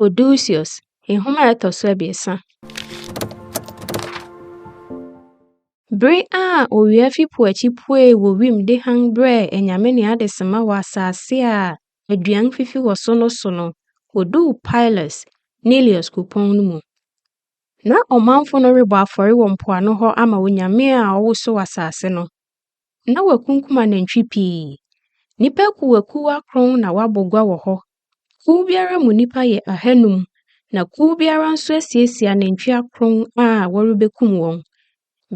Odysseus, nhoma a ɛtɔ so abiɛsa. Bere a owia fi po akyi puee wɔ wim de hann brɛɛ anyame ne adesamma wɔ asase a aduan fifi wɔ so no so no, oduu Pylos, Neleus kuropɔn no mu. Ná ɔmanfo no rebɔ afɔre wɔ mpoano hɔ ama onyame a ɔwosow asase no. na wɔakunkum anantwi pii. Nnipa akuwakuw akron na wɔabɔ gua wɔ hɔ. Kuw biara mu nnipa yɛ ahanum, na kuw biara nso asiesie anantwi akron a wɔrebekum wɔn.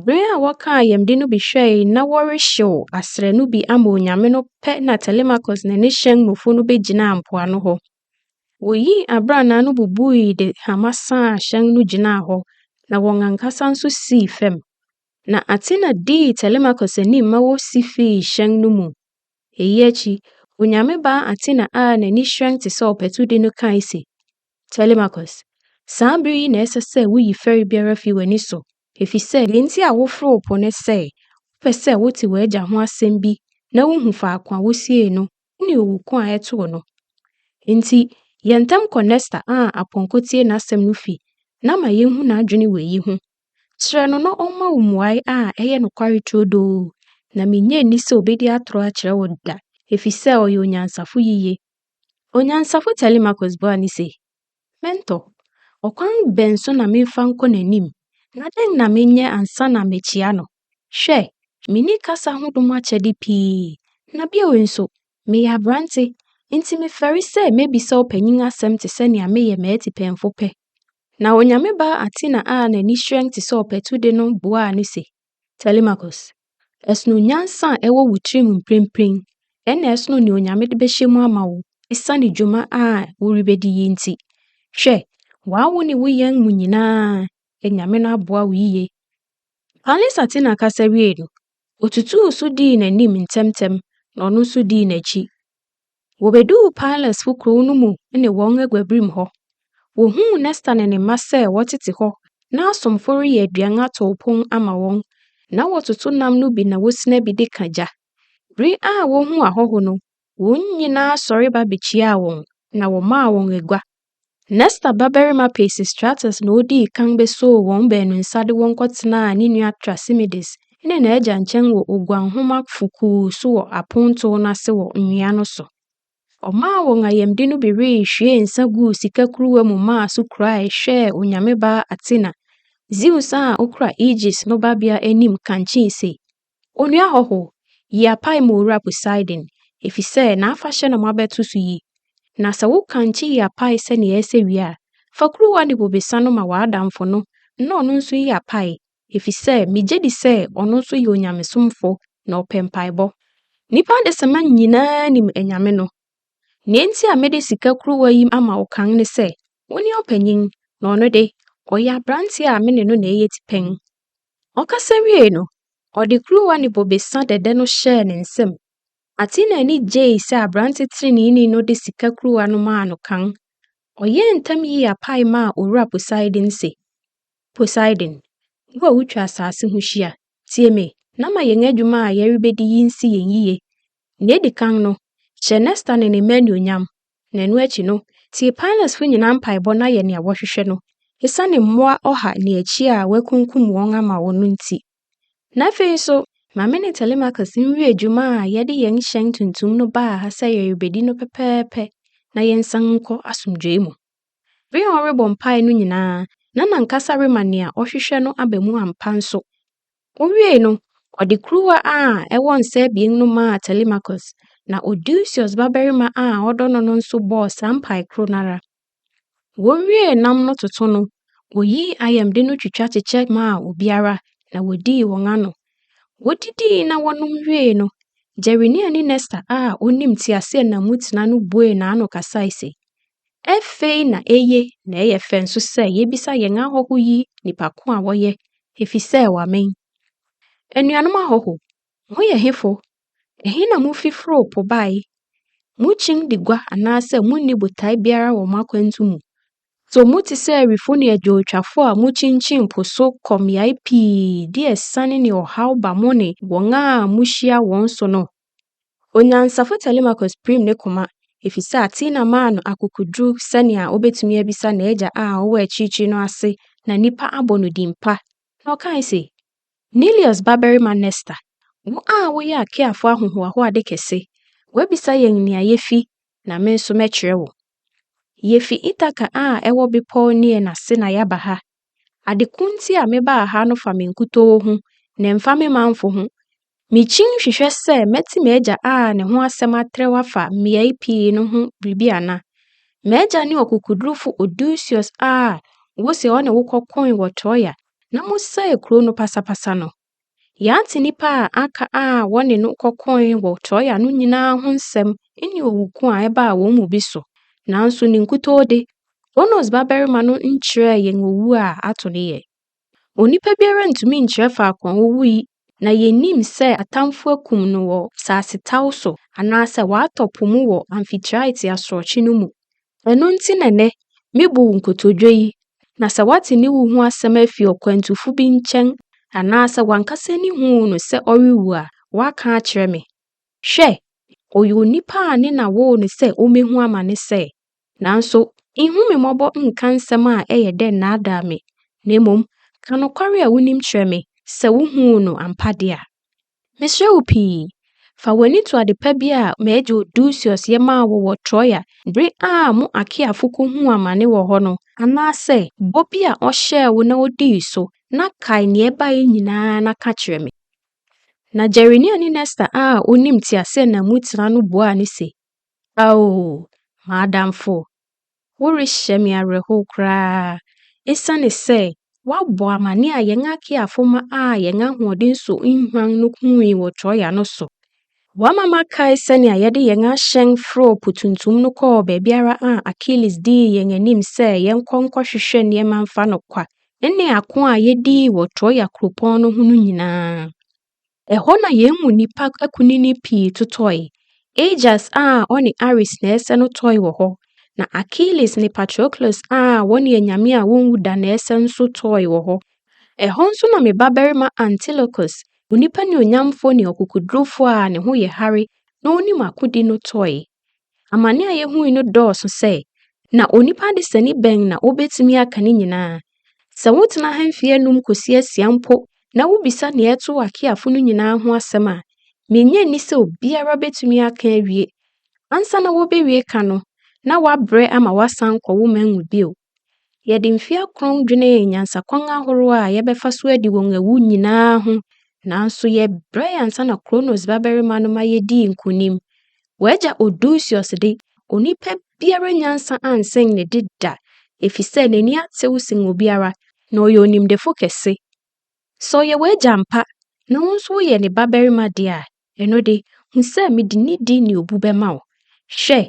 Bere a wɔkaa ayamde no bi hwɛe na wɔrehyew asrɛ no bi ama onyame no pɛ na Telemachus ne ne hyɛn mufo no begyinaa mpoano hɔ. Woyii abrannaa no bubui de hama sãã hyɛn no gyinaa hɔ, na wɔn ankasa nso sii fam. Na Athena dii Telemachus anim ma wosi fii hyɛn no mu. Eyi akyi, onyame baa Athena a n'ani hyerɛn te sɛ ɔpatudi no kae se, Telemachus, saa bere yi na ɛsɛ sɛ wuyi fɛre biara fi w'ani so, efisɛ nea enti a woforo po ne sɛ wopɛ sɛ wote w'agya ho asɛm bi na wuhu faako a wosiee no ne owu ko a ɛtoo no. Enti, yɛ ntɛm kɔ Nestor a apɔnkɔ tie n'asɛm no fi na ma yenhu n'adwene wɔ eyi ho. Kyerɛ no na ɔmma wo mmuae a ɛyɛ nokware turodoo, na minnye nni sɛ obedi atoro akyerɛ wo da, efisɛ ɔyɛ onyansafo yiye. Onyansafo Telemachus buaa no se, Mentor, ɔkwan bɛn so na memfa nkɔ n'anim, na dɛn na menyɛ ansa na makyia no? Hwɛ, minni kasa ho dom akyɛde pii, na bio nso, meyɛ aberante, enti mefɛre sɛ mebisa ɔpanyin asɛm te sɛ nea meyɛ m'atipɛnfo pɛ. Na Onyame baa Athena a n'ani hyerɛn te sɛ ɔpatu de no boaa no se, Telemachus, ɛsono nyansa a ɛwɔ wo tirim mprempren, ɛnna ɛsono nea Onyame de bɛhyɛ mu ama wo esiane dwuma a worebedi yi nti. Hwɛ, w'awo ne wo yɛn mu nyinaa, Anyame no aboa wo yiye. Pallas Athena kasa wiei no, otutuu so dii n'anim ntɛmntɛm na ɔno nso dii n'akyi. Wobeduu Pilesfo kurow no mu ne wɔn aguabirim hɔ. Wohuu Nesta ne ne mma sɛ wɔtete hɔ na asomfo reyɛ aduan atow pon ama wɔn, na wɔtoto nam no bi na wosina bi de ka gya. Bere a wohuu ahɔho no, wɔn nyinaa sɔre ba bekyiaa wɔn, na wɔmaa wɔn agua Nesta babarima Peisistratus na odii kan besoo wɔn baanu nsa de wɔn kɔtenaa ne nua Trasimides ne n'agya nkyɛn wɔ oguanhomafo kuw so wɔ apontow no ase wɔ nwea no so. Ɔmaa wɔn ayamde no bi wee hwiee nsã guu sika kuruwa mu maa so kurae hwɛɛ onyame baa Athena, Zeus a okura Aegis no babea anim kankyee se, Onua hɔho, yi apae ma Owura Poseidon, efisɛ n'afahyɛ na moabɛto so yi. Na sɛ woka nkye yi apae sɛnea ɛyɛ sɛ wie a, fa kuruwa ne bobesa no ma w'adamfo no na ɔno nso nyi apae, efisɛ migye di sɛ ɔno nso yɛ onyamesomfo na ɔpɛ mpaebɔ. Nnipa adesamma nyinaa nim anyame no. Nea enti a mede sika kuruwa yi ama wo kan ne sɛ, wone ɔpanyin, na ɔno de, ɔyɛ aberante a me ne no na ɛyɛ tipɛn. Ɔkasa wiei no, ɔde kuruwa ne bobesa dɛdɛ no hyɛɛ ne nsam. Athena ani gyei sɛ aberante treneeni no de sika kuruwa no maa no kan. Ɔyɛɛ ntɛm yii apae maa Owura Poseidon se, Poseidon, wo a wutwa asase ho hyia, tie me na ma yɛn adwuma a yɛrebedi yi nsi yɛn yiye. Nea edi kan no, hyɛ Nestor ne ne mma anuonyam Na ɛno akyi no, tie Paanasfo nyinaa mpaebɔ na yɛ nea wɔhwehwɛ no, esiane mmoa ɔha ne akyi a wɔakunkum wɔn ama wo no nti. Na afei nso, ma me ne Telemachus nwie dwuma a yɛde yɛn hyɛn tuntum no baa ha sɛ yɛrebedi no pɛpɛɛpɛ na yɛnsan nkɔ asomdwoe mu. Bere a ɔrebɔ mpae no nyinaa, na n'ankasa rema nea ɔhwehwɛ no aba mu ampa nso. Wowiei no, ɔde kuruwa a ɛwɔ nsa abien no maa Telemachus, na Odysseus babarima a ɔdɔ no no nso bɔɔ saa mpae koro no ara. Wowiee nam no toto no, woyii ayamde no twitwa kyekyɛ maa obiara, na wodii wɔn ano. Wodidii na wɔnom wiei no, Gerenia ne Nestor a onim teaseɛnam mu tena no buee n'ano kasae se, Afei na eye na ɛyɛ fɛ nso sɛ yebisa yɛn ahɔho yi nnipa ko a wɔyɛ, efisɛ wɔamen. Anuanom ahɔho, moyɛ hefo? Ɛhe na mufi foroo po bae? Mukyin di gua anaasɛ munni botae biara wɔ mo akwantu mu? So mote sɛ awifo ne adwowtwafo a mukyinkyin po so kɔ mmeae pii de asiane ne ɔhaw ba mo ne wɔn a muhyia wɔn so no? Onyansafo Telemachus pirim ne koma efisɛ Athena maa no akokoduru sɛnea obetumi abisa n'agya a ɔwɔ akyirikyiri no ase na nnipa abɔ no din pa, na ɔkae se, Neleus babarima Nestor, wo a woyɛ Achaeafo ahohoahoade kɛse, woabisa yɛn nea yefi na me nso mɛkyerɛ wo. Yefi Ithaca a ɛwɔ Bepɔw Neain ase na yɛaba ha Ade ko nti a mebaa ha no fa me nkutoo ho, na ɛmfa me manfo ho. Mikyin hwehwɛ sɛ mɛte m'agya a ne ho asɛm atrɛw afa mmeae pii no ho biribi ana. M'agya ne ɔkokodurufo Odysseus a wose ɔne wo kɔkoe wɔ Troia na mosɛee kurow no pasapasa no. Yɛate nnipa a aka a wɔne no kɔkoe wɔ Troa no nyinaa ho nsɛm, ne owu ko a ɛbaa wɔn mu bi so. Nanso ne nkutoo de, Kronos babarima no nkyerɛɛ yɛn owu a ato no yɛn. Onipa biara ntumi nkyerɛ faako a owui, na yennim sɛ atamfo akum no wɔ asasetaw so anaasɛ watɔ po mu wɔ Amphitrite asorɔkye no mu. Ɛno nti na nnɛ mebu wo nkotodwe yi, na sɛ woate ne wu ho asɛm afi ɔkwantufo bi nkyɛn anaasɛ w'ankasa ani huu no sɛ ɔrewu a, woaka akyerɛ me. Hwɛ! Ɔyɛ onipa a ne na woo no sɛ ommehu amane sɛɛ. Nanso nhu me mmɔbɔ nnka nsɛm a ɛyɛ dɛ nnaadaa me, na mmom ka nokware a wunim kyerɛ me, sɛ wuhuu no ampa de a. Mesrɛ wo pii, fa w'ani to ade pa bi a m'agya Odusius yɛ maa wo wɔ Troia bere a mo Achaeafo kohuu amane wɔ hɔ no, anaasɛ bɔ bi a ɔhyɛɛ wo na odii so, na kae nea ɛbae nyinaa na ka kyerɛ me. Na Gerenia ne Nesta a onim teaseɛnam mu tena no buaa no se, Ao, m'adamfo, Worehyɛ me awerɛhow koraa. Esiane sɛ wɔabɔ amanneɛ a yɛn akeafo ma a yɛn ahoɔden so nhuan no hui wɔ Troia no so, wɔama makae sɛnea yɛde yɛn ahyɛn foroo Po Tuntum no kɔɔ baabiara a Achilles dii yɛn anim sɛ yɛnkɔ nkɔhwehwɛ nneɛma mfa no kwa, ne ako a yedii wɔ Troia kuropɔn no ho no nyinaa. Ɛhɔ na yɛn mu nnipa akunini pii totɔe. Aegeus a ɔne Ares na ɛsɛ no tɔe wɔ hɔ, na Achilles ne Patroclus a wɔne anyame a wonwu da na ɛsɛ nso tɔe wɔ hɔ. Ɛhɔ nso na me babarima Antilochus, onipa nuonyamfo ne ɔkokodurufo a ne ho yɛ hare na onim akodi no tɔe. Amane a yehui no dɔɔso sɛ, na onipa desani bɛn na obetumi aka ne nyinaa? Sɛ wotena ha mfe anum kosi asia mpo na wubisa nea ɛtoo Akeafo no nyinaa ho asɛm a, minnye nni sɛ obiara betumi aka awie. Ansa na wobewie ka no, na wɔabrɛ ama wɔasan kɔ wo man mu bio. Yɛde mfe akron dwenee nyansakwan ahorow a yɛbɛfa so adi wɔn awu nyinaa ho, nanso yɛbrɛe ansa na Kronos babarima no ma yedii nkonim. W'agya Odysseus de, onipa biara nyansa ansen ne de da, efisɛ n'ani atew sen obiara, na ɔyɛ onimdefo kɛse. Sɛ ɔyɛ w'agya ampa, na wo nso woyɛ ne babarima de a, Ɛno de, hu sɛ mede nidi ne obu bɛma wo. Hwɛ!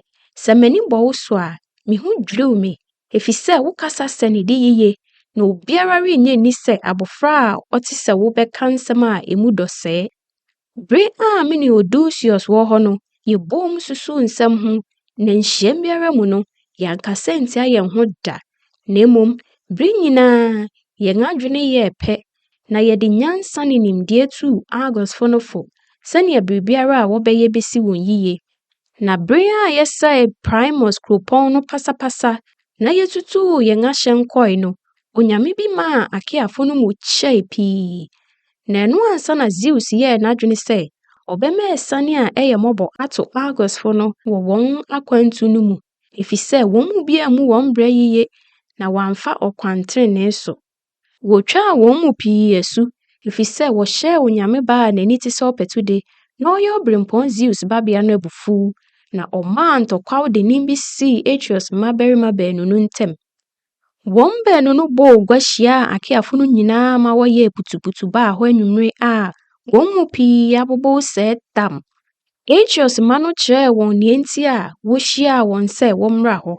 Sɛ m'ani bɔ wo so a, me ho dwiriw me, efisɛ wokasa sɛ nidi yiye, na obiara rennye nni sɛ abofra a ɔte sɛ wo bɛka nsɛm a emu dɔ sɛɛ. Bere a me ne Eudoxius wɔ hɔ no, yɛboom susuw nsɛm ho, na nhyiam biara mu no, yɛankasa antia yɛn ho da, na mmom bere nyinaa yɛn adwene yɛɛ pɛ na yɛde nyansa ne nimdeɛ tuu Argosfo no fo sɛnea biribiara a wɔbɛyɛ besi wɔn yiye. Na bere a yɛsɛee Primus kuropɔn no pasapasa na yetutuu yɛn ahyɛn kɔe no, onyame bi maa Akeafo no mu kyɛe pii. Na ɛno ansa na Zeus yɛɛ n'adwene sɛ ɔbɛma asiane a ɛyɛ mmɔbɔ ato Argosfo no wɔ wɔn akwantu no mu, efisɛ wɔn mu bi ammu wɔn bra yiye na wɔamfa ɔkwan trenee so. Wotwaa wɔn mu pii asu, efisɛ wɔhyɛɛ onyame baa a n'ani te sɛ ɔpatu de, na ɔyɛ obirɛmpɔn Zeus babea no abufuw, na ɔmaa ntɔkwaw dennen bi sii Atreus mmabarima baanu no ntam. Wɔn baanu no bɔɔ gua hyiaa Akeafo no nyinaa ma wɔyɛɛ putuputu baa hɔ anwummere a wɔn mu pii abobow sɛɛ tam. Atreus mma no kyerɛɛ wɔn nea enti a wohyiaa wɔn sɛ wɔmmra hɔ.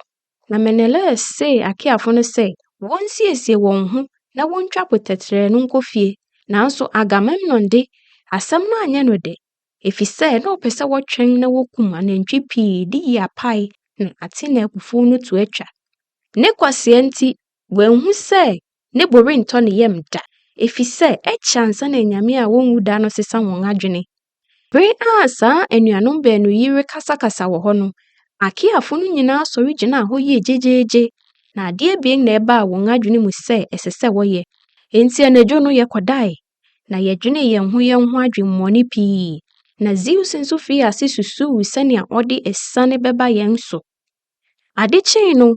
Na Menelaus see Akeafo no sɛ wonsiesie wɔn ho na wontwa po tɛtrɛɛ no nkɔ fie. Nanso Agamemnon de, asɛm no anyɛ no dɛ, efisɛ na ɔpɛ sɛ wɔtwɛn na wokum anantwi pii de yi apae na Athena abufuw no to atwa. Ne kwasea nti, wanhu sɛ ne bo rentɔ ne yam da, efisɛ ɛkyɛ ansa na anyame a wonwu da no sesa wɔn adwene. Bere a saa anuanom baanu yi rekasakasa wɔ hɔ no, Akiafo no nyinaa sɔre gyinaa hɔ yɛɛ gyegyeegye, na ade abien na ɛbaa wɔn adwene mu sɛ ɛsɛ sɛ wɔyɛ. Enti anadwo no yɛkɔdae, na yɛdwenee yɛn ho yɛn ho adwemmɔne pii, na Zeus nso fii ase susuw sɛnea ɔde asiane bɛba yɛn so. Ade kyee no,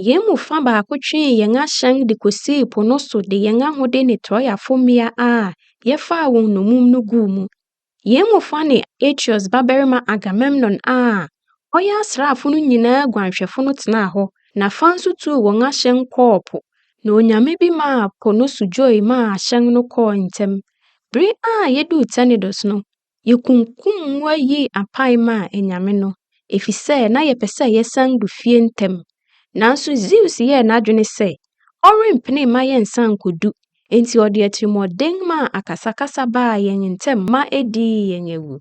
Yɛn mu fã baako twee yɛn ahyɛn de kosii po no so de yɛn ahode ne Troafo mmea a yɛfaa wɔn nnommum no guu mu. Yɛn mu fã ne Aegeus babarima Agamemnon a ɔyɛ asraafo no nyinaa guanhwɛfo no tenaa hɔ, na fã nso tuu wɔn ahyɛn kɔɔ po, na onyame bi maa po no so dwoe maa ahyɛn no kɔɔ ntɛm. Bere a yeduu Tenedos no, Yekunkum mmoa yii apae maa anyame no, efisɛ na yɛpɛ sɛ yɛsan du fie ntɛm. Nanso Zeus yɛɛ n'adwene sɛ ɔrempene mma yɛnsan nkodu, enti ɔde atirimɔden maa akasakasa baa yɛn ntam ma edii yɛn awu.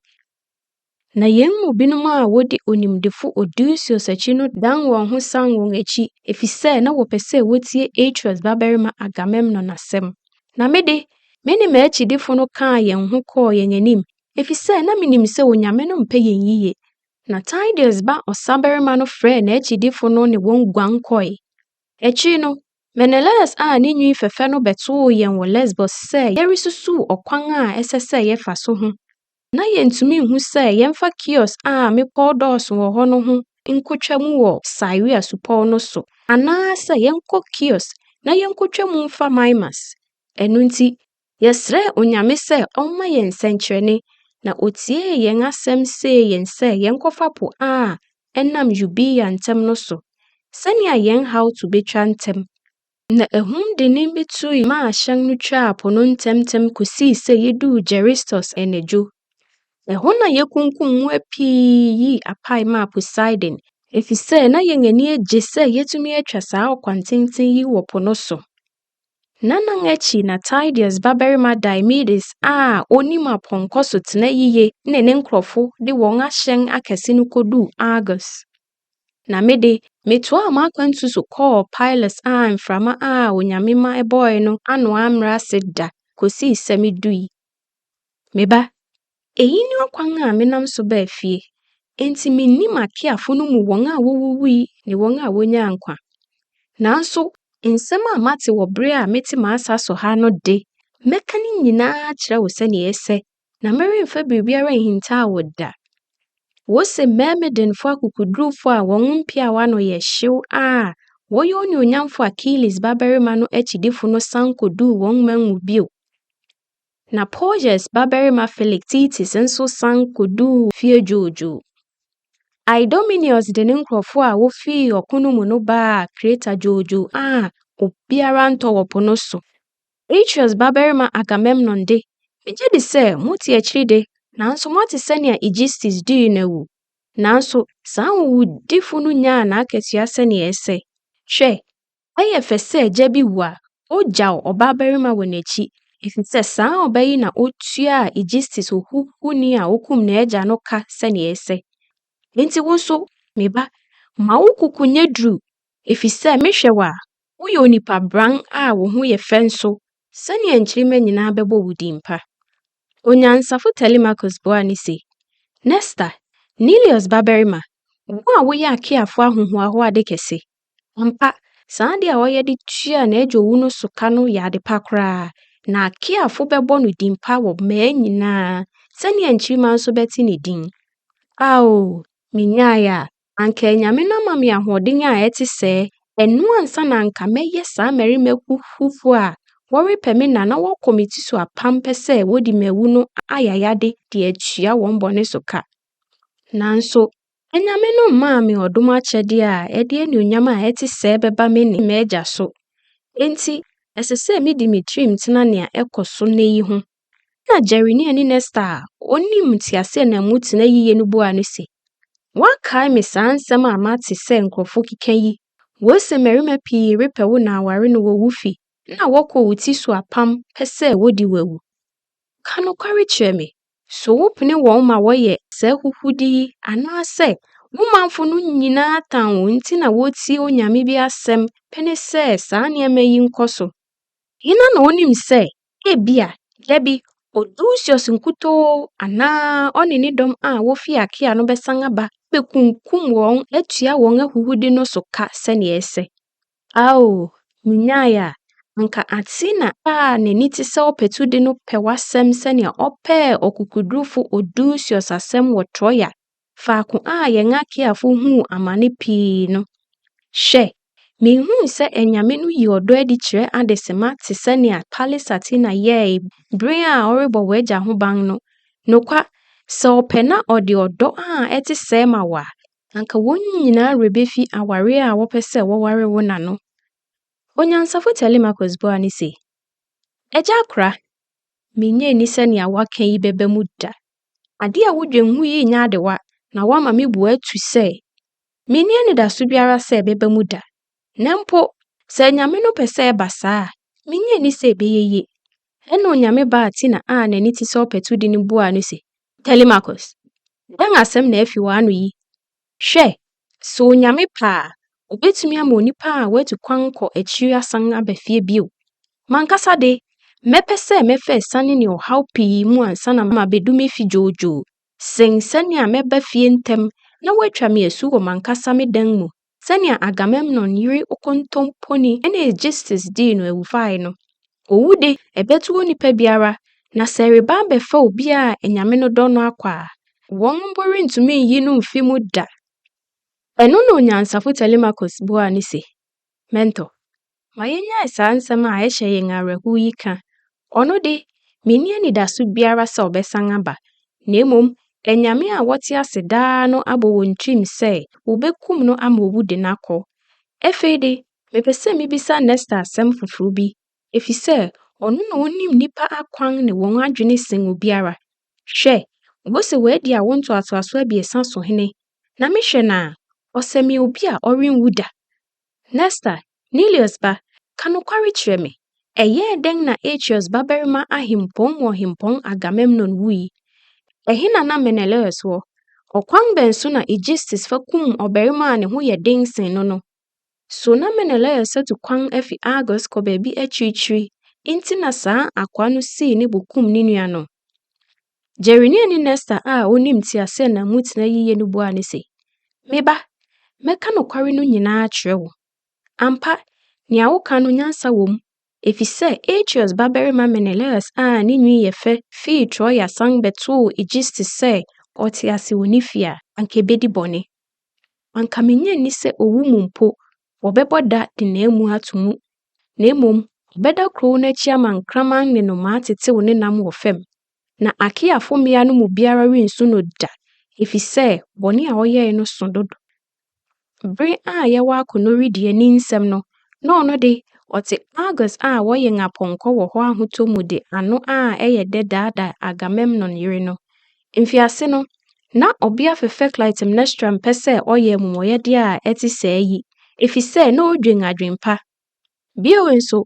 Na yɛn mu binom a wodi onimdefo Odysseus akyi no dan wɔn ho san wɔn akyi efisɛ na wɔpɛ sɛ wotie Atreus babarima Agamemnon asɛm. Na me de, me ne m'akyidifo no kaa yɛn ho kɔɔ yɛn anim, efisɛ na minim sɛ Onyame no mpɛ yɛn yiye. Na Tideus ba ɔsabarima no frɛɛ n'akyidifo no ne wɔn guan kɔe. Akyiri no, Menelaus a ne nwi fɛfɛ no bɛtoo yɛn wɔ Lesbos sɛ yɛresusuw ɔkwan a ɛsɛ sɛ yɛfa so ho Ná yentumi nhu sɛ yɛmfa Kios a mmepɔw dɔɔso wɔ hɔ no ho nkotwa mu wɔ Siria supɔw no so, anaasɛ yɛnkɔ Kios na yenkotwa mu mfa Mimas. Ɛno nti, yɛsrɛɛ Onyame sɛ ɔmma yɛn sɛnkyerɛnne, na otiee yɛn asɛm see yɛn sɛ yɛnkɔfa po a ɛnam Eubea ntam no so, sɛnea yɛn haw to betwa ntɛm. Na ahum dennen bi tui maa hyɛn no twaa po no ntɛmntɛm kosii sɛ yeduu Geristos anadwo. Ɛhɔ na yekunkum mmoa pii yii apae maa Poseidon, efisɛ na yɛn ani agye sɛ yɛatumi atwa saa ɔkwantenten yi wɔ po no so. N'anan akyi na Tydeus babarima Diomedes a onim apɔnkɔ so tena yiye ne ne nkurɔfo de wɔn ahyɛn akɛse no koduu Argos. Na me de, metoaa m'akwantu so kɔɔ Pylos a mframa a Onyame ma ɛbɔɔe no ano ammrɛ ase da kosii sɛ midui. Me ba, eyi ne ɔkwan a menam so baa fie, enti minni m'akeafo no mu wɔn a wowuwui ne wɔn a wonyaa nkwa. Nanso nsɛm a mate wɔ bere a mete m'asa so ha no de, mɛka ne nyinaa akyerɛ wo sɛnea ɛsɛ, na meremfa biribiara nhintaw wo da. Wose mmɛɛmedenfo akokodurufo a wɔn mpeaw ano yɛ hyew a wɔyɛ onuonyamfo Achilles babarima no akyidifo no san koduu wɔn man mu bio. Na Porges babarima Philoctetes nso san koduu fie dwoodwoo. Idomeneus de ne nkurɔfo a wofii ɔko no mu no baa Kreta dwoodwoo a obiara ntɔ wɔ po no so. Atreus babarima Agamemnon de, migye di sɛ mote akyiri de, nanso moate sɛnea Aegisthus dii no awu. Nanso saa nwowudifo no nyaa n'akatua sɛnea ɛsɛ. Hwɛ! Ɛyɛ fɛ sɛ agya bi wu a, ogyaw ɔbabarima wɔ n'akyi, efisɛ saa ɔba yi na otuaa Aegisthus ohuhuni a okum n'agya no ka sɛnea ɛsɛ. Enti wo nso, me ba, ma wo koko nyɛ duru Efisɛ mehwɛ wo a, woyɛ onipa brann a wo ho yɛ fɛ nso sɛnea nkyirimma nyinaa bɛbɔ wo din pa. Onyansafo Telemachus buaa no se, Nestor, Neleus babarima, wo a woyɛ Akeafo ahohoahoade kɛse, ampa, saa ade a ɔyɛ de tuaa n'agya owu no so ka no yɛ ade pa koraa, na Akeafo bɛbɔ no din pa wɔ mmaa nyinaa, sɛnea nkyirimma nso bɛte ne din. Ao, minyae a, Anka Anyame no ama me ahoɔden a ɛte sɛɛ, ɛno ansa na anka mɛyɛ saa mmarima huhufoɔ a wɔrepɛ me nna na wɔkɔ me ti so apampɛ sɛ wɔdi m'awu no ayayade de atua wɔn bɔne so ka. Nanso, Anyame no mmaa me ɔdom akyɛdeɛ a ɛde anuonyam a ɛte sɛɛ bɛba me ne m'Agya so. Enti, ɛsɛ sɛ medi me tirim tena nea ɛkɔ so nnɛ yi ho. Ɛnna Jeremia ne Nestor a onim teaseɛnam mu tena yiye no buaa no se, Woakae me saa nsɛm a mate sɛ nkurɔfo keka yi? Wose mmarima pii repɛ wo na aware no wɔ wo fi na wɔkɔ wo ti so apam pɛ sɛ wodi wo awu. Ka nokware kyerɛ me, so wopene wɔn ma wɔyɛ saa ahuhude yi anaasɛ wo manfo no nyinaa tan wo nti na wotie onyame bi asɛm pene sɛ saa nneɛma yi nkɔ so? Hena na onim sɛ Ebia, da bi, Odysseus nkutoo anaa ɔne ne dɔm a wofi Achaea no bɛsan aba abekunkum wɔn atua wɔn ahuhude no so ka sɛnea ɛsɛ. Ao, minyae a, anka Athena a n'ani te sɛ ɔpatu de no pɛ w'asɛm sɛnea ɔpɛɛ ɔkokodurufo Odysseus asɛm wɔ Troia faako a yɛn akeafo huu amane pii no. Hwɛ, minhui sɛ anyame no yi ɔdɔ adi kyerɛ adesemma te sɛ nea Thales Athena yɛe bere a ɔrebɔ w'agya ho ban no. Nokwa, sɛ ɔpɛ na ɔde ɔdɔ a ɛte sɛɛ ma wo a, anka wɔn nyinaa werɛ befi aware a wɔpɛ sɛ wɔware wo no ano. Onyansafo Telemachus buaa no se, Agya akora, minnye nni sɛ nea woaka yi bɛba mu da. Ade a wudwen ho yi nyɛ adewa na woama me bo atu sɛ minni anidaso biara sɛ ɛbɛba mu da. Na mpo sɛ Onyame no pɛ sɛ ɛba saa a, minnye nni sɛ ɛbɛyɛ yie. Ɛnna Onyame baa Tina a n'ani te sɛ ɔpatudi no buaa no se, Telemachus, dɛn asɛm na afi w'ano yi? Hwɛ, sɛ Onyame pɛ a, obetumi ama onipa a watu kwan kɔ akyiri asan aba fie bio. M'ankasa de, mɛpɛ sɛ mɛfa asiane ne ɔhaw pii mu ansa na mabedu me fi dwoodwoo sen sɛnea mɛba fie ntɛm na wɔatwa me asu wɔ m'ankasa me dan mu sɛnea Agamemnon yere okontomponi Aegisthus dii no awufae no. Owu de, ɛbɛto onipa biara, na sɛ ɛreba abɛfa obi a anyame no dɔ no akɔ a, wɔn mpo rentumi nyi no mfi mu da. Ɛno na onyansafo Telemachus buaa no se, Mentor, ma yennyae saa nsɛm a ɛhyɛ yɛn awerɛhow yi ka. Ɔno de, minni anidaso biara sɛ ɔbɛsan aba, na mmom anyame a wɔte ase daa no abɔ wɔn tirim sɛ wobekum no ama owu de no akɔ. Afei de, Mepɛ sɛ mibisa Nesta asɛm foforo bi, efisɛ ɔno na onim nnipa akwan ne wɔn adwene sen obiara. Hwɛ! Mose wadi awo ntoatoaso abiɛsa so hene, na mehwɛ no a, ɔsɛ me obi a ɔrenwu da. Nesta, Neleus ba, ka nokware kyerɛ me, ɛyɛɛ dɛn na Atreus babarima ahempɔn mu ɔhempɔn Agamemnon wui? Ɛhe na na Menelaus wɔ? Ɔkwan bɛn so na Aegisthus fa kum ɔbarima a ne ho yɛ den sen no no? So na Menelaus atu kwan afi Argos kɔ baabi akyirikyiri nti na saa akoa no sii ne bo kum ne nua no? Gereniani Nesta a onim teaseɛnam mu tena yiye no buaa no se, Me ba, mɛka nokware no nyinaa akyerɛ wo. Ampa, nea woka no nyansa wom, efisɛ Atreus babarima Menelaus a ne nwi yɛ fɛ fii Troia san bɛtoo Aegisthus sɛ ɔte ase wɔ ne fi a, anka ebedi bɔne. Anka minnye nni sɛ owu mu mpo, wɔbɛbɔ da de n'amu ato mu, na mmom ɔbɛda kurow no akyi ama nkraman ne nnomaa atetew ne nam wɔ fam. Na Akiafo mmea no mu biara rensu no da, efisɛ bɔne a ɔyɛe no sõ dodo. Bere a yɛwɔ akɔnnɔ redi ani nsɛm no, na ɔno de, ɔte Argos a wɔyɛn apɔnkɔ wɔ hɔ ahotɔ mu de ano a ɛyɛ dɛ daadaa Agamemnon yere no. Mfiase no, na ɔbea fɛfɛ Clytemnestra mpɛ sɛ ɔyɛ amumɔyɛde a ɛte sɛɛ yi efisɛ na odwen adwempa. Bio nso,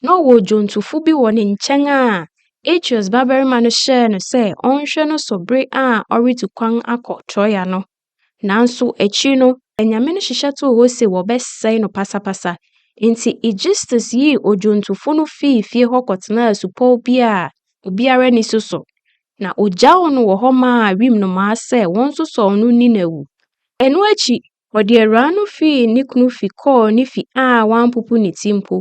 na ɔwɔ odwontofo bi wɔ ne nkyɛn a Atreus babarima no hyɛɛ no sɛ ɔnhwɛ no so bere a ɔretu kwan akɔ Troia no. Nanso akyiri no, anyame no hyehyɛ too hɔ se wɔbɛsɛe no pasapasa. Enti Aegisthus yii odwontofo no fii fie hɔ kɔtenaa asupɔw bi a obiara nni so so, na ogyaw no wɔ hɔ maa wim nnomaa sɛ wɔnsosɔw no nni no awu. Ɛno akyi, ɔde awuraa no fii ne kunu fi kɔɔ ne fi a wampopo ne ti mpo.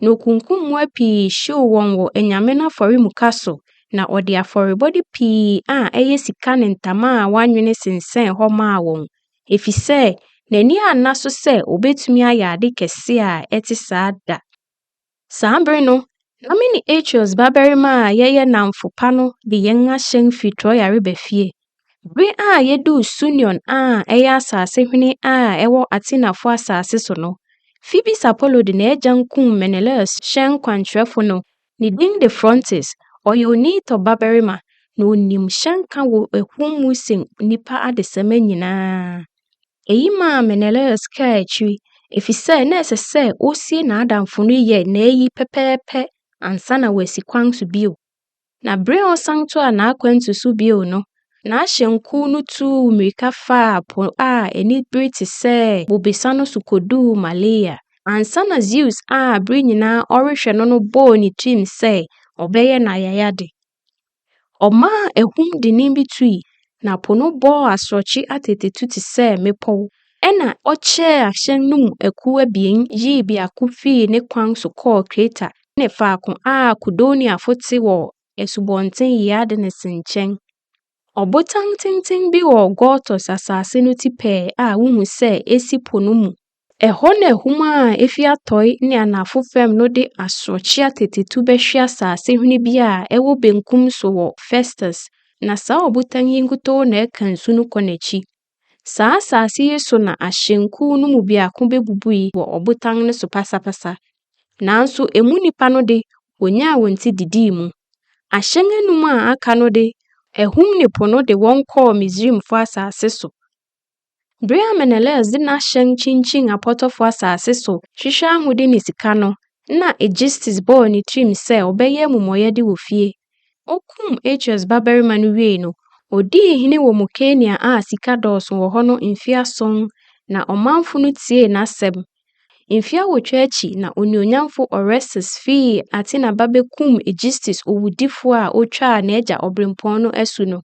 na okunkum mmoa pii hyew wɔn wɔ anyame no afɔremuka so, na ɔde afɔrebɔde pii a ɛyɛ sika ne ntama a wɔanwene sensɛn hɔ maa wɔn, efisɛ n'ani anna so sɛ obetumi ayɛ ade kɛse a ɛte saa da. Saa bere no, na me ne Achios babarima a yɛyɛ nnamfo pa no de yɛn ahyɛn fi Troa reba fie. Bere a yeduu Sunion a ɛyɛ asase hwene a ɛwɔ Atenafo asase so no, Fibi Sapolo de n'agyan kum Menelaus hyɛn kwankyerɛfo no. Ne din de Phrontis. Ɔyɛ Onitɔ babarima, na onim hyɛnka wɔ ahum mu sen nnipa adesamma nyinaa. Eyi maa Menelaus kaa akyiri, efisɛ na ɛsɛ sɛ osie n'adamfo no yɛ n'ayi pɛpɛɛpɛ ansa na wasi kwan so bio. Na bere a ɔsan toaa n'akwantu so bio no, n'ahyɛnkuw no tuu mmirika faa po a anibere te sɛ bobesa no so koduu Malea. Ansa na Zeus a bere nyinaa ɔrehwɛ no no bɔɔ ne tirim sɛ ɔbɛyɛ no ayayade. Ɔmaa ahum dennen bi tui, na po no bɔɔ asorɔkye atetetu te sɛ mmepɔw. Ɛnna ɔkyɛɛ ahyɛn no mu akuw abien yii biako fii ne kwan so kɔɔ Kreta, ne faako a Kudoniafo te wɔ Asubɔnten Iadenese nkyɛn. Ɔbotan tenten bi wɔ Gortys asase no ti pɛɛ a wohu sɛ esi po no mu. Ɛhɔ na ahum a efi atɔe ne anafo fam no de asorɔkye atetetu bɛhwe asase hene bi a ɛwɔ benkum so wɔ Festus, na saa ɔbotan yi nkutoo na ɛka nsu no kɔ n'akyi. Saa asase yi so na ahyɛnkuw no mu biako bebubui wɔ ɔbotan no so pasapasa. Nanso emu nnipa no de, wonyaa wɔn ti didii mu. Ahyɛn anum a aka no de, ahum ne po no de wɔn kɔɔ Misraimfo asase so. Bere a Menelaus de n'ahyɛn kyinkyin apɔtɔfo asase so hwehwɛ ahode ne sika no, na Aegisthus bɔɔ ne tirim sɛ ɔbɛyɛ amumɔyɛde wɔ fie. Okum Achios babarima no wiei no, odii hene wɔ Mukenia a sika dɔɔso wɔ hɔ no mfe ason, na ɔmanfo no tiee n'asɛm. Mfe awotwe akyi na onuonyamfo Orestes fii Athena ba bekum Aegisthus owudifo a otwaa n'agya obirɛmpɔn no asu no.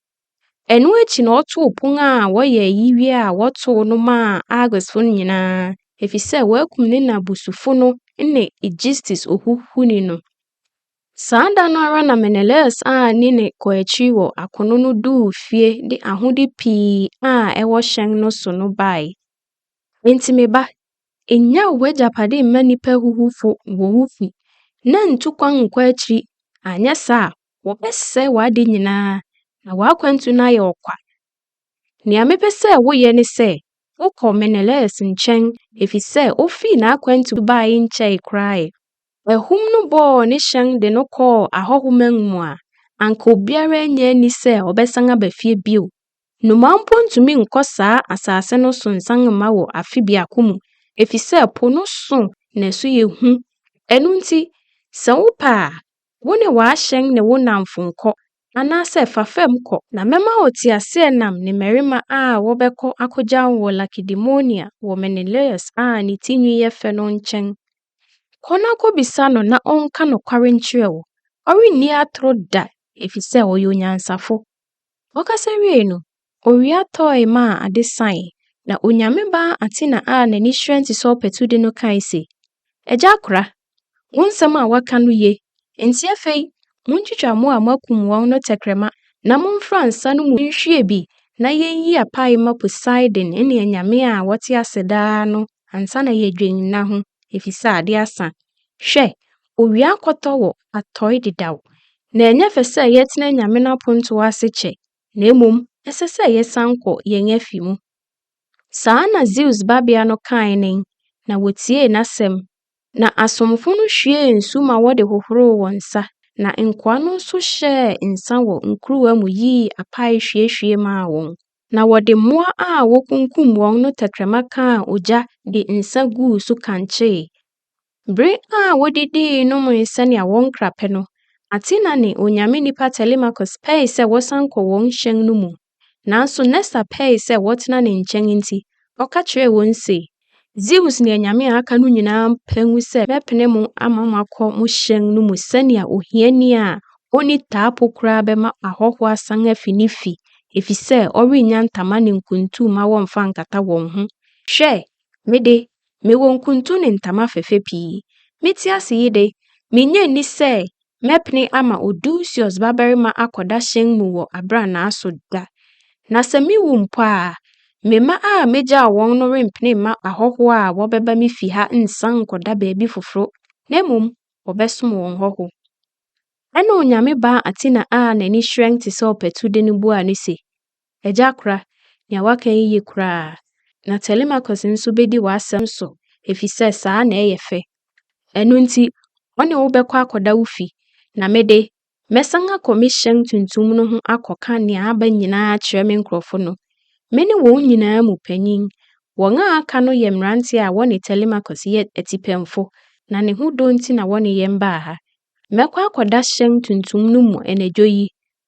Ɛno akyi na ɔtoo pon a wɔyɛ ayi wie a wɔtow no maa Argosfo no nyinaa, efisɛ wɔakum ne na busufo no ne Aegisthus ohuhuni no. Saa da no ara na Menelaus a ne nne kɔ akyiri wɔ akono no duu fie de ahode pii a ɛwɔ hyɛn no so no bae. Enti me ba, nnyaw w'agyapade mma nnipa ahuhufo wɔ wo fi, na ntu kwan nkɔ akyiri, anyɛ saa a, wɔbɛsɛe w'ade nyinaa, na w'akwantu no ayɛ ɔkwa. Nea mepɛ sɛ woyɛ ne sɛ wokɔ Menelaus nkyɛn efisɛ ofii n'akwantu bae nkyɛe koraa ɛ. Ahum no bɔɔ ne hyɛn de no kɔɔ ahɔho man mu a, anka obiara nnye anni sɛ ɔbɛsan aba fie bio. Nnomaa mpo ntumi nkɔ saa asase no so nsan mma wɔ afe biako mu efisɛ po no so na ɛso yɛ hu. Ɛno nti, sɛ wopɛ a, wo ne w'ahyɛn ne wo nnamfo nkɔ, Anaasɛ fa fam kɔ. Na mɛma wo teaseɛnam ne mmarima a wɔbɛkɔ akogya wo wɔ Lakedemonia wɔ Menelaus a ne ti nwi yɛ fɛ no nkyɛn. Kɔ na kɔbisa no na ɔnka nokware nkyerɛ wo. Ɔrenni atoro da efisɛ ɔyɛ onyansafo. Ɔkasa wiei no, Owia tɔe maa ade sae, na Onyame ba Athena a n'ani hyerɛn te sɛ ɔpatu de no kae se, Agya akora, wo nsɛm a woaka no ye, enti afei muntwitwa mmoa a moakum wɔn no tɛkrɛma na momfra nsa no mu nhwie bi na yenyi apae mma Poseidon ne anyame a wɔte ase daa no ansa na yɛadwen nna ho, efisɛ ade asa. Hwɛ, owia akɔtɔ wɔ atɔe dedaw, na ɛnyɛ fɛ sɛ yɛtena anyame no apontow ase kyɛ na mmom ɛsɛ sɛ yɛsan kɔ yɛn afi mu. Saa na Zeus babea no kae nen, na wotiee n'asɛm. Na asomfo no hwiee nsu ma wɔde hohoroo wɔn nsa, na nkoa no nso hyɛɛ nsã wɔ nkuruwa mu yii apae hwiehwie maa wɔn. Na wɔde mmoa a wokunkum wɔn no tɛkrɛma kaa ogya de nsã guu so kankyee, Bere a wodidii nomee sɛnea wɔn kra pɛ no, Athena ne onyame nipa Telemachus pɛe sɛ wɔsan kɔ wɔn hyɛn no mu. Nanso Nestor pɛe sɛ wɔtena ne nkyɛn nti, ɔka kyerɛɛ wɔn se, Zeus ne anyame a aka no nyinaa paw sɛ mɛpene mo ama moakɔ mo hyɛn no mu sɛnea ohiani a onni taapo koraa bɛma ahɔho asan afi ne fi efisɛ ɔrennya ntama ne nkuntu mma wɔmmfa nkata wɔn ho. Hwɛ! Me de, mewɔ nkuntu ne ntama fɛfɛ pii. Mete ase yi de, minnye nni sɛ mɛpene ama Odusius babarima akɔda hyɛn mu wɔ abrannaa so da. Na sɛ mewu mpo a, me mma a megyaw wɔn no rempene mma ahɔho a wɔbɛba me fi ha nsan nkɔda baabi foforo, na mmom wɔbɛsom wɔn hɔho. Ɛnna Onyame baa Athena a n'ani hyerɛn te sɛ ɔpatude no buaa no se, Agya Kora, nea woaka yi ye koraa. Na Telemachus nso bedi w'asɛm so, efisɛ saa na ɛyɛ fɛ. Ɛno nti, ɔne wo bɛkɔ akɔda wo fi, na me de, mɛsan akɔ me hyɛn tuntum no ho akɔka nea aba nyinaa akyerɛ me nkurɔfo no. Mene wɔn nyinaa mu panyin. Wɔn a aka no yɛ mmerante a wɔne Telemachus yɛ atipɛnfo, na ne ho dɔ nti na wɔne yɛn baa ha. Mɛkɔ akɔda hyɛn tuntum no mu anadwo yi,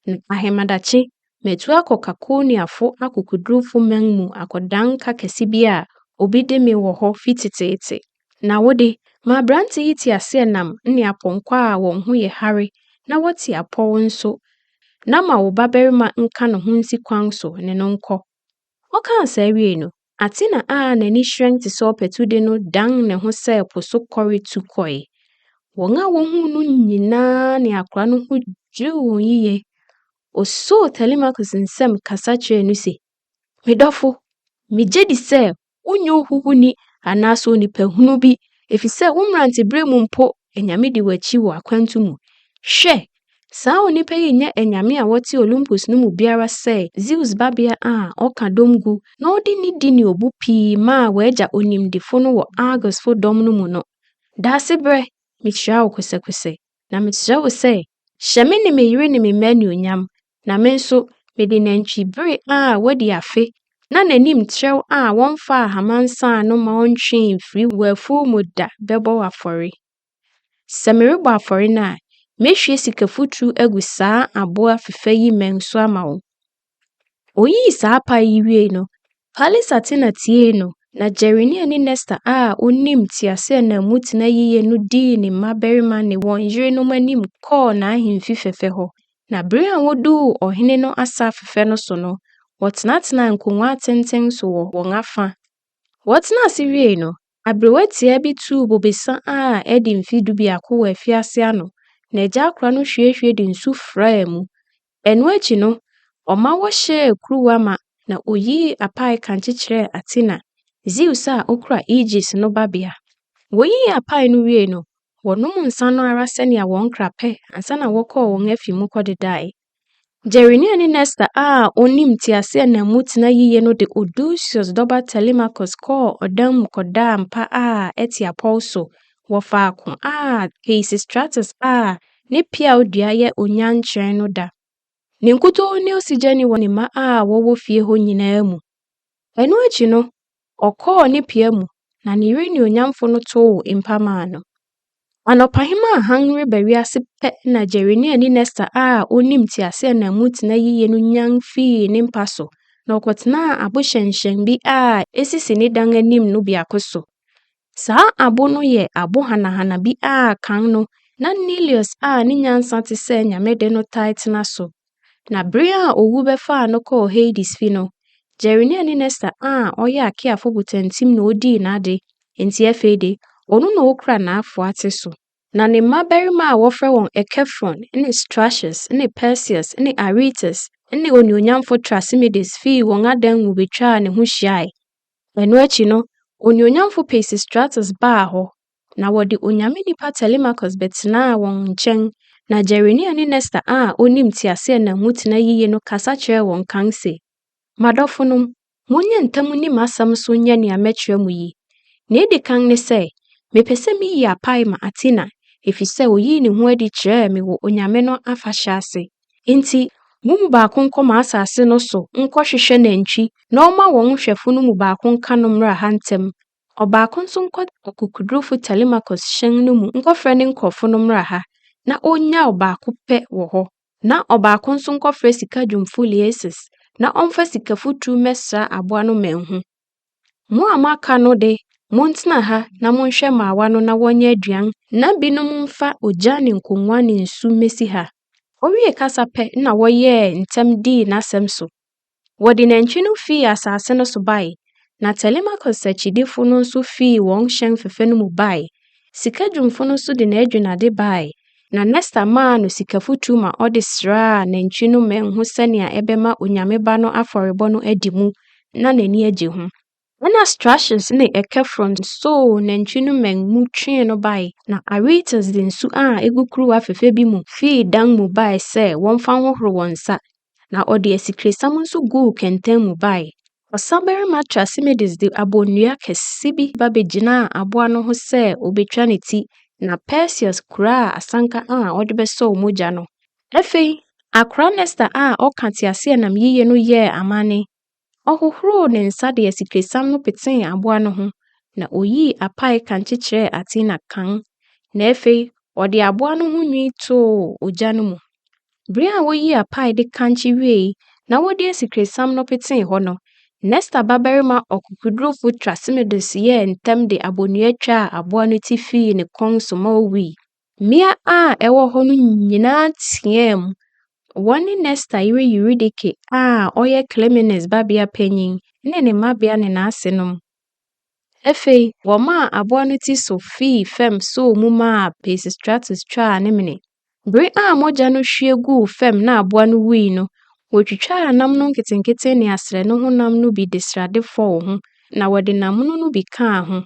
Na ahemadakye, matu akɔ Kakoniafo akokodurufo man mu akɔdan ka kɛse bi a obi de me wɔ hɔ fi teteete. Na wo de, ma aberante yi teaseɛnam ne apɔnkɔ a wɔn ho yɛ hare na wɔte apɔw nso, na ma wo babarima nka ne ho nsi kwan so ne no nkɔ. Ɔkaa saa wiei no, Athena a n'ani hyerɛn te sɛ ɔpatude no dan ne ho sɛ po so kɔre tu kɔe. Wɔn a wohuu no nyinaa ne akora no ho dwiriw wɔn yiye. Osoo Telemachus nsam kasa kyerɛɛ no se, Me dɔfo, migye di sɛ wonyɛ ohuhuni anaasɛ onipahunu bi, efisɛ wo mmerantebere mu mpo anyame di w'akyi wɔ akwantu mu. Hwɛ! Saa onipa yi nyɛ anyame a wɔte Olympus no mu biara sɛ Zeus babea a ɔka dɔm gu na ɔde nidi ne obu pii maa w'agya onimdefo no wɔ Argosfo dɔm no mu no. Daasebrɛ, mihyira wo kosɛkosɛ, na mesrɛ wo sɛ, hyɛ me ne me yere ne me mma anuonyam, na me nso, mede nantwibere a wadi afe na n'anim trɛw a wɔmfaa hama nsaa no ma ontwee mfiri w'afuw mu da bɛbɔ wo afɔre. Sɛ merebɔ afɔre no a, mehwie sikafuturu agu saa aboa fɛfɛ yi mmɛn so ama wo. Oyii saa pae yi wiei no, Pallis Athena tiee no, na Jerenia ne Nesta a onim teaseɛnam mu tena yiye no dii ne mmabarima ne wɔn yerenom anim kɔɔ n'ahemfi fɛfɛ hɔ. Na bere a woduu ɔhene no asa fɛfɛ no so no, wɔtenatenaa nkongua atenten so wɔ wɔn afã. Wɔtenaa ase wiei no, Aberewa tiaa bi tuu bobesa a adi mfe dubiako wɔ afiase ano, na agya akora no hwiehwie de nsu fraa mu. Ɛno akyi no, ɔma wɔhyɛɛ kuruwa ma na oyii apae kankye kyerɛɛ Athena, Zeus a okura Aegis no babea. Woyii apae no wiei no, wɔnom nsa no ara sɛnea wɔn kra pɛ ansa na wɔkɔɔ wɔn afi mu kɔdedae. Jeremia ne Nesta a onim teaseɛnam mu tena yiye no de Odysseus dɔba Telemachus kɔɔ ɔdan mu kɔdaa mpa a ɛte apɔw so wɔ faako a Peisistratus a ne peaw dua yɛ onyan kyerɛn no da. Ne nkutoo ne osigyani wɔ ne mma a wɔwɔ fie hɔ nyinaa mu. Ɛno akyi no, Ɔkɔɔ ne pia mu, na ne yere nuonyamfo no tow mpa maa no. Anɔpahema a hann reba wiase pɛ na Jeremia ne Nesta a onim teaseɛnam mu tena yiye no nyan fii ne mpa so na ɔkɔtenaa abo hyɛnhyɛn bi a esisi ne dan anim no biako so. Saa abo no yɛ abo hanahana bi a kan no na Neleus a ne nyansa te sɛ Nyame de no taa tena so. Na bere a owu bɛfaa no kɔɔ Hades fi no, Gerenia ne Nesta a ɔyɛ Akeafo botantim na odii n'ade, enti afei de, ɔno na okura n'afoa te so. Na ne mmabarima a wɔfrɛ wɔn Echephron ne Strachus ne Perseus ne Aretas ne onuonyamfo Thrasymedes fii wɔn adan mu betwaa ne ho hyiae. Ɛno akyi no, onuonyamfo Peisistratus baa hɔ, Na wɔde onyame nipa Telemachus bɛtenaa wɔn nkyɛn, na Jeremia ne Nestor a onim teaseɛnam mu tena yiye no kasa kyerɛɛ wɔn kan se, M'adɔfonom, monyɛ ntɛm nni m'asɛm so nyɛ nea mɛkyerɛ mo yi. Nea edi kan ne sɛ, mepɛ sɛ miyi apae ma Athena, efisɛ oyii ne ho adi kyerɛɛ me wɔ onyame no afahyɛ ase. Enti mo mu baako nkɔ m'asase no so nkɔhwehwɛ nantwi na ɔmma wɔn nhwɛfo no mu baako nka no mmra ha ntɛm, Ɔbaako nso nkɔ ɔkokodurufo Telemachus hyɛn no mu nkɔfrɛ ne nkurɔfo no mmra ha, na onnyaw baako pɛ wɔ hɔ, na ɔbaako nso nkɔfrɛ sika dwumfo Liasus, na ɔmfa sikafuturu mmɛsra aboa no manhu. Mo a moaka no de, montena ha na monhwɛ mmaawa no na wɔnyɛ aduan, na binom mfa ogya ne nkongua ne nsu mmesi ha. Owiee kasa pɛ na wɔyɛɛ ntɛm dii n'asɛm so, Wɔde nantwi no fii asase no so bae, na Telemachus akyidifo no nso fii wɔn hyɛn fɛfɛ no mu bae. Sika dwumfo no nso de n'adwinnade bae, na Nestor maa no sika foturu ma ɔde sraa nantwi no mmɛn ho sɛnea ɛbɛma onyame ba no afɔrebɔ no adi mu na n'ani agye ho. Ɛnna Stratus ne Ekefron soo nantwi no mmɛn mu twee no bae, na Aretas de nsu a egu kuruwa fɛfɛ bi mu fii dan mu bae sɛ wɔmfa nhohoro wɔn nsa, na ɔde asikresiam nso guu kɛntɛn mu bae. Ɔsabarima Trasimedes de abonnua kɛse bi ba begyinaa aboa no ho sɛ obetwa ne ti, na Perseus kuraa asanka a ɔde bɛsɔw mogya no. Afei, akora Nestor a ɔka teaseɛnam yiye no yɛɛ amanne Ɔhohoroo ne nsa de asikresiam no petee aboa no ho, na oyii apae kankye kyerɛɛ Athena kann, na afei ɔde aboa no ho nwi too ogya no mu. Bere a woyii apae de kankye wiei na wɔde asikresiam no petee hɔ no, Nestor babarima ɔkokodurufo Thrasymedes yɛɛ ntɛm de abonnua twaa aboa no ti fii ne kɔn so ma owui. Mmea a ɛwɔ hɔ no nyinaa teɛɛm. Wɔne Nesta yere Euridike a ɔyɛ Klemenes babea panyin ne ne mmabea ne n'asenom. Afei wɔmaa aboa no ti so fii fam soo mu maa Pisistratus twaa ne mene. Bere a mogya no hwie guu fam na aboa no wui no, wotwitwaa nam no nketenkete ne asrɛ no honam no bi de srade fɔw ho, na wɔde nam mono no bi kaa ho.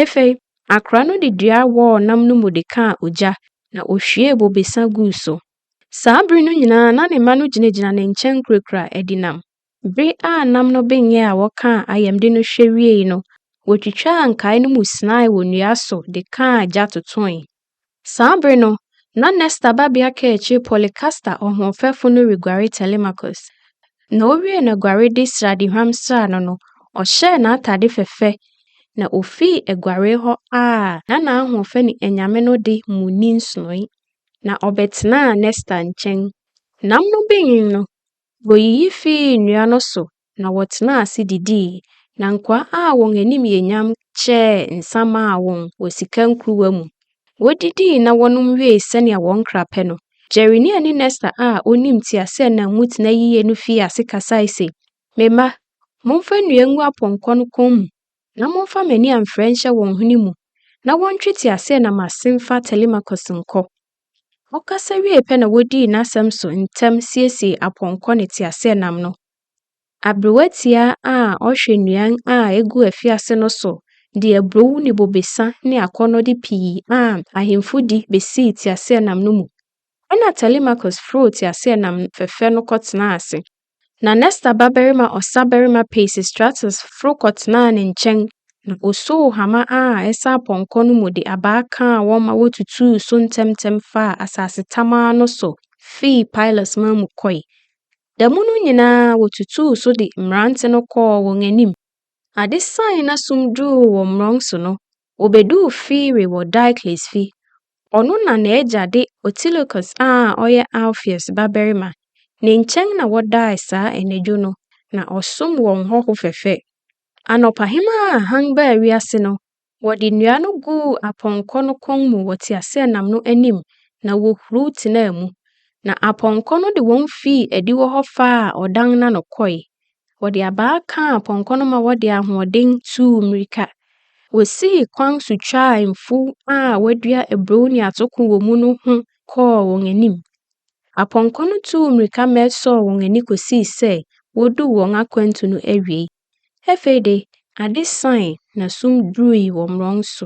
Afei Akora no de dua wɔɔ nam no mu de kaa ogya, na ohwiee bobesa guu so. Saa bere no nyinaa na ne mma no gyinagyina ne nkyɛn kurakura adi nam. Bere a nam no benyɛ a wɔkaa ayamde no hwɛ wiei no, wotwitwaa nkae no mu sinae wɔ nnua so de kaa gya totoe. Saa bere no, na Nestor babea kaakyiri Polycaster ɔhoɔfɛfo no reguare Telemachus. Na owiee n'aguarede sradehuam sraa no no, ɔhyɛɛ n'atade fɛfɛ, na ofii aguaree hɔ a na n'ahoɔfɛ ne anyame no de mu nni nsonoe, na ɔbɛtenaa Nestor nkyɛn. Nam no benyin no, woyiyi fii nnua no so Na wɔtenaa ase didii, na nkoa a wɔn anim yɛ nyam kyɛɛ nsã maa wɔn wɔ sika nkuruwa mu. Wodidii na wɔnom wiei sɛnea wɔn kra pɛ no, Jeremia ne Nestor a onim teaseɛnam mu tena yiye no fii ase kasae se, Me mma, momfa nnua ngu apɔnkɔ no kɔn mu, na momfa mmɛn a mfrɛ nhyɛ wɔn hwene mu, na wɔntwe teaseɛnam ase mfa Telemachus nkɔ. Ɔkasa wiei pɛ na wodii n'asɛm so ntɛm siesiee apɔnkɔ ne teaseɛnam no Aberewa tiaa a ɔhwɛ nnuan a egu afiase no so de aburow ne bobesa ne akɔnnɔde pii a ahemfo di besii teaseɛnam no mu. Ɛnna Telemachus foroo teaseɛnam fɛfɛ no kɔtenaa ase, na Nestor babarima ɔsabarima Peisistratus foro kɔtenaa ne nkyɛn, na osoo hama a ɛsɛ apɔnkɔ no mu de abaa kaa wɔn ma wotutuu so ntɛmntɛm faa asase tamaa no so fii Pylos man mu kɔe. Da mu no nyinaa wotutuu so de mmerante no kɔɔ wɔn anim. Ade sae na sum duruu wɔ mmorɔn so no, wobeduu Fire wɔ Diocles fi. Ɔno na n'agya de Otilochus a ɔyɛ Alpheus babarima. Ne nkyɛn na wɔdae saa anadwo no, na ɔsom wɔn hɔho fɛfɛ. Anɔpahema a hann baa wiase no, Wɔde nnua no guu apɔnkɔ no kɔn mu wɔ teaseɛnam no anim na wohuruw tenaa mu, na apɔnkɔ no de wɔn fii adiwo hɔ faa ɔdan no ano kɔe. Wɔde abaa kaa apɔnkɔ no ma wɔde ahoɔden tuu mmirika. Wosii kwan so twaa mfuw a wɔadua aburow ne atoko wɔ mu no ho kɔɔ wɔn anim. Apɔnkɔ no tuu mmirika ma ɛsɔɔ wɔn ani kosii sɛ woduu wɔn akwantu no awiei. Afei de, ade sae na sum durui wɔ mmorɔn so.